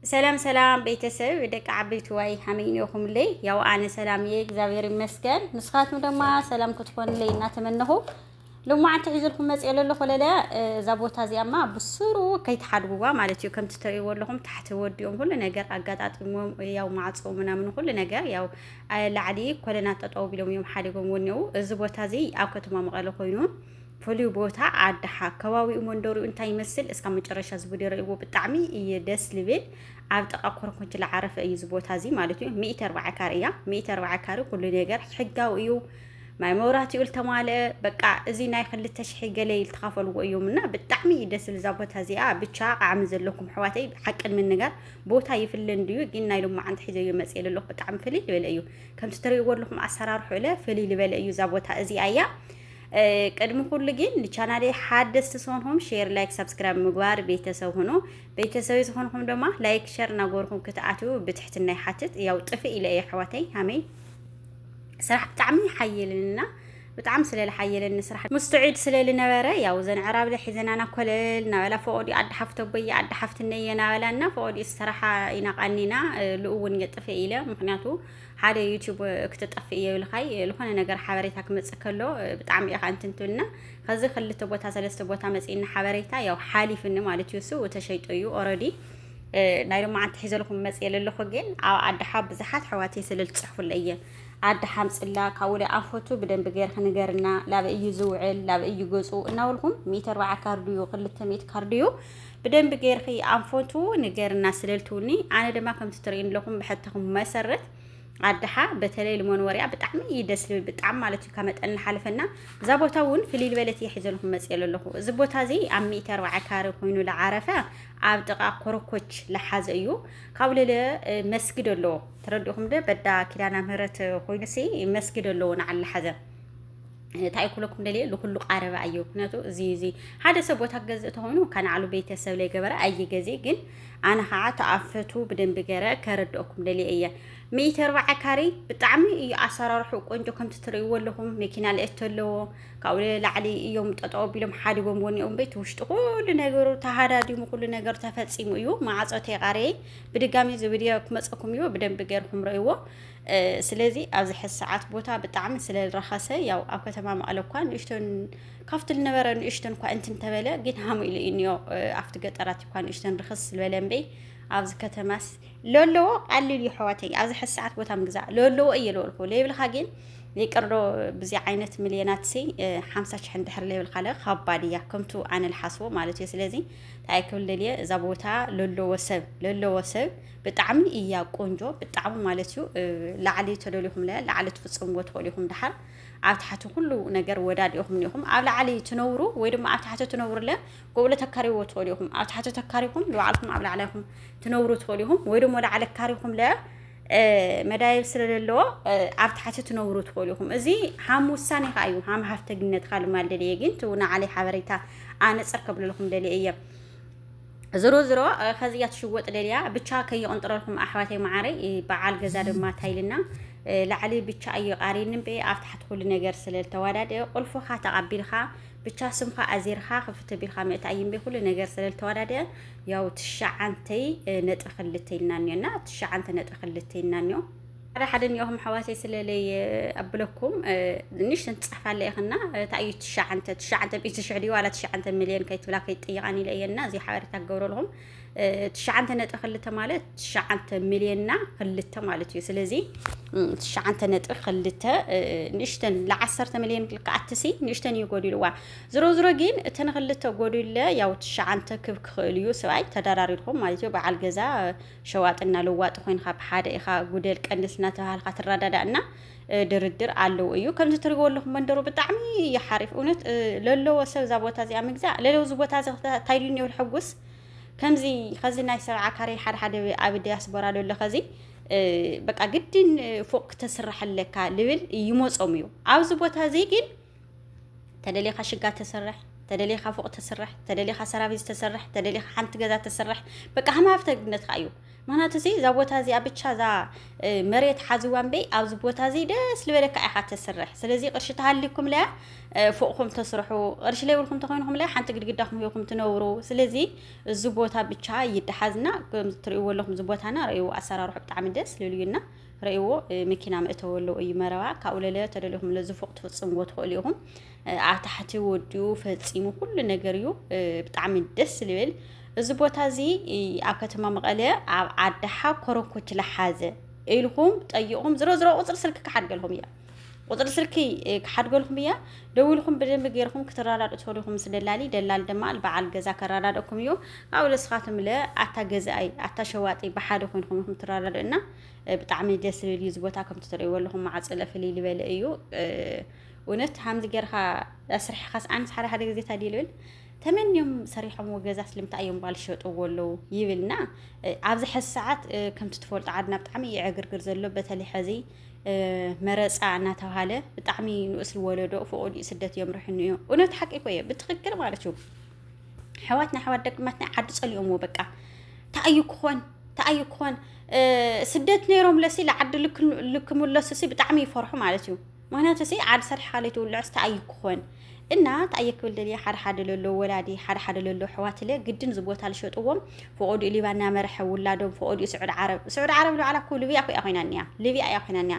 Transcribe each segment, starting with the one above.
ሰላም ሰላም ቤተሰብ ደቂ ዓበይትዋይ ሃመይ ኔኹምለይ ያው ኣነ ሰላም እየ እግዚኣብሔር ይመስገን ንስኻትኩም ደማ ሰላም ክትኮንለይ እናተመነኹ ልማዓንቲ ሒዝልኩም መፅኦ ለሎ ኮለለ እዛ ቦታ እዚኣማ ብስሩ ከይትሓድጉዋ ማለት እዩ ከምቲ ትርእይዎ ኣለኹም ታሕቲ ወዲኦም ሁሉ ነገር ኣጋጣጢሞም ያው ማዕፆ ምናምን ሁሉ ነገር ያው ላዕሊ ኮለና ጠጠው ቢሎም እዮም ሓዲጎም ወኒኡ እዚ ቦታ እዚ ኣብ ከተማ መቐለ ኮይኑ ፍሉይ ቦታ ኣድሓ ከባቢኡ መንደሪኡ እንታይ ይመስል እስካብ መጨረሻ እዚ ቪድዮ ረእዎ ብጣዕሚ እዩ ደስ ልብል ኣብ ጥቃ ኮርኮች ዝዓረፈ እዩ እዚ ቦታ እዚ ማለት እዩ ሚእቲ ኣርባዓ ካሬ እያ ሚእቲ ኣርባዓ ካሬ ኩሉ ነገር ሕጋዊ እዩ ማይ መብራህቲኡ ዝተማልአ በቃ እዚ ናይ ክልተ ሽሒ ገለ ዝተኻፈልዎ እዮም እና ብጣዕሚ እዩ ደስ ልዛ ቦታ እዚኣ ብቻ ቃዕሚ ዘለኩም ኣሕዋተይ ሓቅን ምንጋር ቦታ ይፍለ እንድዩ ግን ናይ ሎማዓንቲ ሒዘዮ መፅእ ኣለኹ ብጣዕሚ ፍልይ ዝበለ እዩ ከምቲ ትሪእዎ ኣለኹም ኣሰራርሑ እለ ፍልይ ዝበለ እዩ እዛ ቦታ እዚኣ እያ ቅድሚ ኩሉ ግን ንቻናለይ ሓደስቲ ዝኾንኹም ሼር ላይክ ሳብስክራይብ ምግባር ቤተሰብ ሁኑ ቤተሰብ ዝኾንኹም ድማ ላይክ ሸር እናገበርኩም ክትኣትው ብትሕትና ይሓትት ያው ጥፍእ ኢለ እየ ኣሕዋተይ ሃመይ ስራሕ ብጣዕሚ ይሓየልንና ብጣዕሚ ስለ ዝሓየለኒ ስራሕ ሙስተዒድ ስለ ዝነበረ ያው ዘን ዕራብለ ሒዘናና ኮለል ናበላ ፈቆዲ ኣዲ ሓፍቶ ቦየ ኣዲ ሓፍትነየ ናበላና ፈቆዲ ስራሓ ኢና ቃኒና ልኡውን የጥፍእ ኢለ ምክንያቱ ሓደ ዩቲዩብ ክትጠፍእ እየ ኢሉኻይ ዝኾነ ነገር ሓበሬታ ክመፅእ ከሎ ብጣዕሚ እየ ከንትንቱልና ከዚ ክልተ ቦታ ሰለስተ ቦታ መፅእና ሓበሬታ ያው ሓሊፍኒ ማለት እዩ እሱ ተሸይጦ እዩ ኦረዲ ናይ ሎማዓንቲ ሒዘልኩም መፅየ ዘለኹ ግን ኣብ ኣድሓ ብዙሓት ኣሕዋት የስልል ፅሕፉለ እየ ኣደ ሓምፅላ ካብኡ ደ ኣንፈቱ ብደንብ ገይርክ ንገርና ላበ እዩ ዝውዕል ላበ እዩ ገፁ እናበልኩም ሚእቲ ኣርባዓ ካርድዩ ክልተ ሚእቲ ካርድዩ ብደንቢ ገይርኺ ኣንፈቱ ንገርና ስለልትውኒ ኣነ ድማ ከምቲ ትርእዩ ኣለኹም ብሕተኹም መሰረት ኣድሓ በተለይ ልሞን ወሪያ ብጣዕሚ እዩ ደስ ልብል ብጣዕሚ ማለት እዩ ካብ መጠን ሓለፈና እዛ ቦታ እውን ፍልይ ልበለት እየ ሒዘልኩም መፅኤ ኣለኹ እዚ ቦታ እዚ ኣብ ሚእቲ ኣርባዓ ካሪ ኮይኑ ዝዓረፈ ኣብ ጥቃ ኮረኮች ልሓዘ እዩ ካብኡ ልለ መስጊድ ኣለዎ ተረዲእኹም ዶ በዳ ኪዳና ምህረት ኮይኑ ሲ መስጊድ ኣለዎ ንዓል ልሓዘ እንታይ ክብለኩም ደልየ ልኩሉ ቃረበ ኣየ ምክንያቱ እዚ እዚ ሓደ ሰብ ቦታ ክገዝእ ተኾይኑ ካብ ናዕሉ ቤተሰብ ለይገበረ ኣይገዜ ግን ኣነ ከዓ ተኣፈቱ ብደንቢ ገረ ከረድኦኩም ደልየ እየ ሚእቲ ኣርባዓ ካሬ ብጣዕሚ እዩ ኣሰራርሑ ቆንጆ ከምቲ ትርእይዎ ኣለኹም መኪና ልእት ኣለዎ ካብኡ ላዕሊ እዮም ጠጠው ኣቢሎም ሓዲጎም ወኒኦም ቤት ውሽጢ ኩሉ ነገሩ ተሃዳዲሙ ኩሉ ነገር ተፈፂሙ እዩ ማዕፆ ተቃረየ ብድጋሚ እዚ ቪድዮ ክመፀኩም እዩ ብደንቢ ገርኩም ረእይዎ ስለዚ ኣብዚ ሕዚ ሰዓት ቦታ ብጣዕሚ ስለ ዝረኸሰ ያው ኣብ ከተማ መቐለ እኳ ንእሽቶን ካብቲ ዝነበረ ንእሽቶን እኳ እንትን እንተበለ ግን ሃሙ ኢሉ እዩ እኒኦ ኣብቲ ገጠራት እኳ ንእሽቶን ርክስ ዝበለ እምበይ ኣብዚ ከተማስ ለለዎ ቀሊል እዩ ሕዋተይ ኣብዚ ሕዚ ሰዓት ቦታ ምግዛእ ለለዎ እየ ለበልኩ ለይብልካ ግን ይቅርዶ ብዚ ዓይነት ሚልዮናት ሲ ሓምሳ ሽሕ እንድሕር ለይብልካ ለ ከባድ እያ ከምቱ ኣነ ልሓስቦ ማለት እዩ ስለዚ እንታይ ክብል ደልየ እዛ ቦታ ለለዎ ሰብ ለለዎ ሰብ ብጣዕሚ እያ ቆንጆ ብጣዕሚ ማለት እዩ ላዕሊ ተደሊኹም ለ ላዕሊ ትፍፅምዎ ትኽእሉ ኢኹም ድሓር ኣብ ትሓቲ ኩሉ ነገር ወዳድ ኢኹም ኒኹም ኣብ ላዕሊ ትነብሩ ወይ ድማ ኣብ ትሓቲ ትነብሩ ለ ጎብለ ተካሪዎ ትኽእሉ ኢኹም ኣብ ትሓቲ ተካሪኹም ንባዕልኩም ኣብ ላዕሊ ኢኹም ትነብሩ ትኽእሉ ኢኹም ወይ ድማ ላዕሊ ካሪኹም ለ መዳየብ ስለለለዎ ኣብ ትሓቲ ትነብሩ ትኽእሉ ኢኹም እዚ ሃም ውሳኔ ከዓ እዩ ሃም ሃፍተግነትካ ልማል ደልየ ግን ትው ንዓለይ ሓበሬታ ኣነፅር ከብልልኹም ደልየ እየ ዝሮ ዝሮ ከዚ እያ ትሽወጥ ደልያ ብቻ ከይቕንጥረልኩም ኣሕዋተይ መዓረይ በዓል ገዛ ድማ ታይልና ላዕሊ ብቻ እዩ ቃሪን እምበይ ኣብ ታሕቲ ኩሉ ነገር ስለ ዝተዋዳደ ቁልፍኻ ተቐቢልካ ብቻ ስምኻ ኣዚርካ ክፍት ቢልካ ምእታ እዩ እምበይ ኩሉ ነገር ስለ ዝተዋዳደ ያው ትሽዓንተይ ነጥቢ ክልተ ኢልና እኒኦ እና ትሽዓንተ ነጥቢ ክልተ ኢልና እኒኦ ሓደ ሓደ እኒኦኹም ኣሕዋተይ ስለለይ ኣብለኩም ንእሽተን ትፅሕፋ ኣለይ ኽና እንታይ እዩ ትሸዓንተ ትሸዓንተ ሚእቲ ሽሕ ድዩ ዋላ ትሸዓንተ ሚልዮን ከይትብላ ከይትጥይቃን ኢለ እየ እና እዚ ሓበሬታ ክገብረልኹም ትሸዓንተ ነጥቢ ክልተ ማለት ትሸዓንተ ሚልዮንና ክልተ ማለት እዩ ስለዚ ትሸዓንተ ነጥቢ ክልተ ንእሽተን ንዓሰርተ ሚልዮን ክልክዓትሲ ንእሽተን እዩ ጎዲልዋ ዝሮ ዝሮ ግን እተን ክልተ ጎዲለ ያው ትሸዓንተ ክብ ክኽእል እዩ ሰብኣይ ተደራሪርኩም ማለት እዩ በዓል ገዛ ሸዋጥና ለዋጢ ኮይንካ ብሓደ ኢኻ ጉደል ቀንስ እናተባሃልካ ትረዳዳእ እና ድርድር ኣለው እዩ ከምዚ ትሪእዎ ኣለኹም መንደሩ ብጣዕሚ እዩ ሓሪፍ እውነት ለለዎ ሰብ እዛ ቦታ እዚኣ ምግዛእ ለለው እዚ ቦታ እዚ እንታይ ኢሉኒ ይብል ሕጉስ ከምዚ ከዚ ናይ ሰብዓ ካሬ ሓደ ሓደ ኣብ ዲያስፖራ ለሎ ከዚ በቃ ግድን ፎቅ ክተስራሕ ኣለካ ልብል ይመፆም እዩ ኣብዚ ቦታ እዚ ግን ተደሊኻ ሽጋ ተስርሕ ተደሊኻ ፎቕ ተስርሕ ተደሊኻ ሰራቪስ ተስርሕ ተደሊኻ ሓንቲ ገዛ ተስርሕ በቃ ሃማፍተግነትካ እዩ ምክንያቱ እዚ እዛ ቦታ እዚኣ ብቻ እዛ መሬት ሓዝዋ እምበይ ኣብዚ ቦታ እዚ ደስ ዝበለካ ኢኻ ተስርሕ ስለዚ ቅርሺ ተሃሊኩም ለያ ፎቕኹም ተስርሑ ቅርሺ ለይብልኩም ተኮይንኩም ለያ ሓንቲ ግድግዳ ሂኩም ትነብሩ ስለዚ እዚ ቦታ ብቻ ይደሓዝና ከምዚ ትሪእዎ ኣለኹም እዚ ቦታና ረእይዎ ኣሰራርሑ ብጣዕሚ ደስ ልልዩና ረእይዎ መኪና መእተዊ ኣለዎ እዩ መረባ ካብኡ ለለ ተደሊኹም ለዚ ፎቅ ትፍፅምዎ ትኽእሉ ኢኹም ኣብ ታሕቲ ወዲኡ ፈፂሙ ኩሉ ነገር እዩ ብጣዕሚ ደስ ዝብል እዚ ቦታ እዚ ኣብ ከተማ መቐለ ኣብ ዓዳሓ ኮረኮች ለሓዘ ኢልኩም ጠይቁም ዝሮ ዝሮ ቁፅሪ ስልኪ ክሓድገልኩም እያ ቁፅሪ ስልኪ ክሓድገልኩም እያ ደውልኩም ብደንብ ገይርኩም ክትረዳድኡ ትኸዱኹም ምስ ደላሊ ደላል ድማ በዓል ገዛ ከረዳድእኩም እዩ ካብኡ ለስኻትም ለ ኣታ ገዛኣይ ኣታ ሸዋጢ ብሓደ ኮይንኩም ኢኹም ትረዳድእና ብጣዕሚ ደስ ዝብል እዩ ዝቦታ ከምቲ ትርእይዎ ኣለኹም ማዕፅለ ፍልይ ዝበለ እዩ እውነት ሓምዚ ጌርካ ኣስርሕኻስ ኣንስ ሓደ ሓደ ግዜ ታዲ ልብል ተመንዮም ሰሪሖምዎ ገዛ ስለምንታይ እዮም ባል ሸጥዎ ኣለዉ ይብልና ኣብዚ ሕዚ ሰዓት ከምቲ ትፈልጡ ዓድና ብጣዕሚ እዩ ዕግርግር ዘሎ በተለይ ሕዚ መረፃ እናተባሃለ ብጣዕሚ ንኡስ ወለዶ ፍቑድ ስደት እዮም ርሕኑ እዮም እውነት ሓቂ እኮ እየ ብትኽክል ማለት እዩ ኣሕዋትና ኣሕዋት ደግማትና ዓዲ ጸሊኦምዎ በቃ ተኣዩ ክኾን ተኣዩ ክኾን ስደት ነይሮም ለሲ ልዓዲ ልክምለሱ ሲ ብጣዕሚ ይፈርሑ ማለት እዩ ምክንያቱ ሲ ዓዲ ሰርሕካ ለይትውልዕስ ተኣዩ ክኾን እና ተኣየ ክብል ደልየ ሓደ ሓደ ለሎ ወላዲ ሓደ ሓደ ለሎ ኣሕዋትለ ግድን እዚ ቦታ ልሸጥዎም ፈቆዱ ሊባና መርሐ ውላዶም ፈቆዱ ስዑድ ዓረብ ስዑድ ዓረብ ልባዕላ እኮ ልብያ እኮ እያ ኮይና እኒያ ልብያ እያ ኮይና እኒያ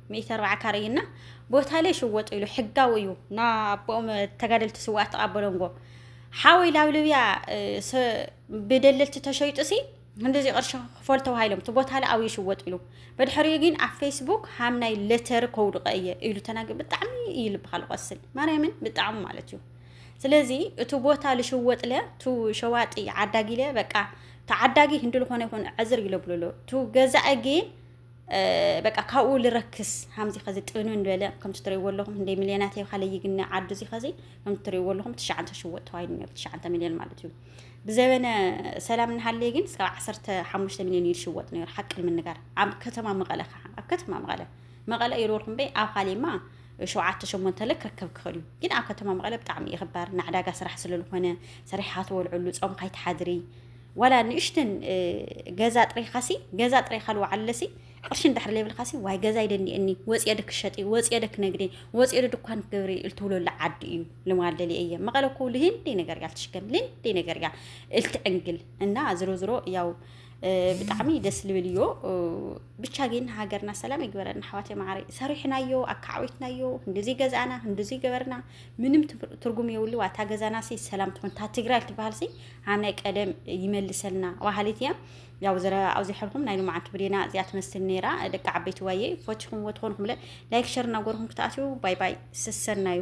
ሚእቲ ኣርብዓ ካሬ እዩ እና ቦታ ለይ ሽወጥ ኢሉ ሕጋዊ እዩ ና ኣቦኦም ተጋደልቲ ስዋኣት ተቃበሎንጎ ሓወይ ላብ ልብያ ብደለልቲ ተሸይጡ ሲ እንደዚ ቅርሺ ክፈል ተባሂሎም እቲ ቦታ ለ ኣብዩ ሽወጥ ኢሉ በድሕሪኡ ግን ኣብ ፌስቡክ ሃም ናይ ለተሪ ከውድቀ እየ ኢሉ ተናገ ብጣዕሚ እዩ ልብካ ልቆስል ማርያምን ብጣዕሚ ማለት እዩ ስለዚ እቲ ቦታ ልሽወጥ ለ ቱ ሸዋጢ ዓዳጊ ለ በቃ ተዓዳጊ ህንዲ ልኮነ ይኮን ዕዝር ይለብልሎ ቱ ገዛኢ ግን በቃ ካብኡ ልረክስ ሃምዚ ከዚ ጥንን በለ ከምቲ ትሪእዎ ኣለኹም ክንደይ ሚልዮናት እየ ካለ ይግነ ዓዱ እዚ ከዚ ከምቲ ትሪእዎ ኣለኹም ትሽዓተ ሽወጥ ተባሂሉ ነይሩ ትሽዓተ ሚልዮን ማለት እዩ ብዘበነ ሰላም እናሃለየ ግን እስካብ ዓሰርተ ሓሙሽተ ሚልዮን እዩ ዝሽወጥ ነይሩ ሓቂ ንምንጋር ኣብ ከተማ መቐለ ከዓ ኣብ ከተማ መቐለ መቐለ እዩ ርወልኩም በይ ኣብ ካሊማ ሸውዓተ ሸሞንተ ለ ክርከብ ክኽእል እዩ ግን ኣብ ከተማ መቐለ ብጣዕሚ እዩ ክባር ንዕዳጋ ስራሕ ስለዝኾነ ሰሪሕካ ትበልዐሉ ፆምካ ይትሓድሪ ዋላ ንእሽተን ገዛ ጥሪኻሲ ገዛ ጥሪኻ ልወዓለሲ ቅርሺ እንድሕር ዘይብልካሲ ዋይ ገዛ ይደኒኤኒ ወፅየ ዶ ክሸጢ ወፅየ ዶ ክነግዲ ወፅየ ዶ ድኳን ክገብሪ እልትብለሉ ዓዲ እዩ ልማል ደሊ እየ መቐለ እኮ ልሂን ደይ ነገር እያ ልትሽገን ልን ደይ ነገር እያ እልትዕንግል እና ዝሮ ዝሮ ያው ብጣዕሚ ደስ ልብል እዮ ብቻ ግን ሃገርና ሰላም ይግበረና ኣሕዋት ማዕረ ሰሪሕናዮ ኣካዓዊትናዮ እንደዚ ገዛእና እንደዚ ገበርና ምንም ትርጉም የብሉ ኣታ ገዛና ሲ ሰላም ትኹን እታ ትግራይ ትበሃል ሲ ኣነ ቀደም ይመልሰልና በሃሊት እያ ያው ዘረባ ኣብዚሐልኩም ናይ ልምዓት ብሬና እዚኣ ትመስል ነይራ ደቂ ዓበይቲ ዋየ ፈቲኹምዎ ትኾንኹምለ ላይክ ሸር እናጎርኩም ክትኣትዩ ባይ ባይ ሰሰናዩ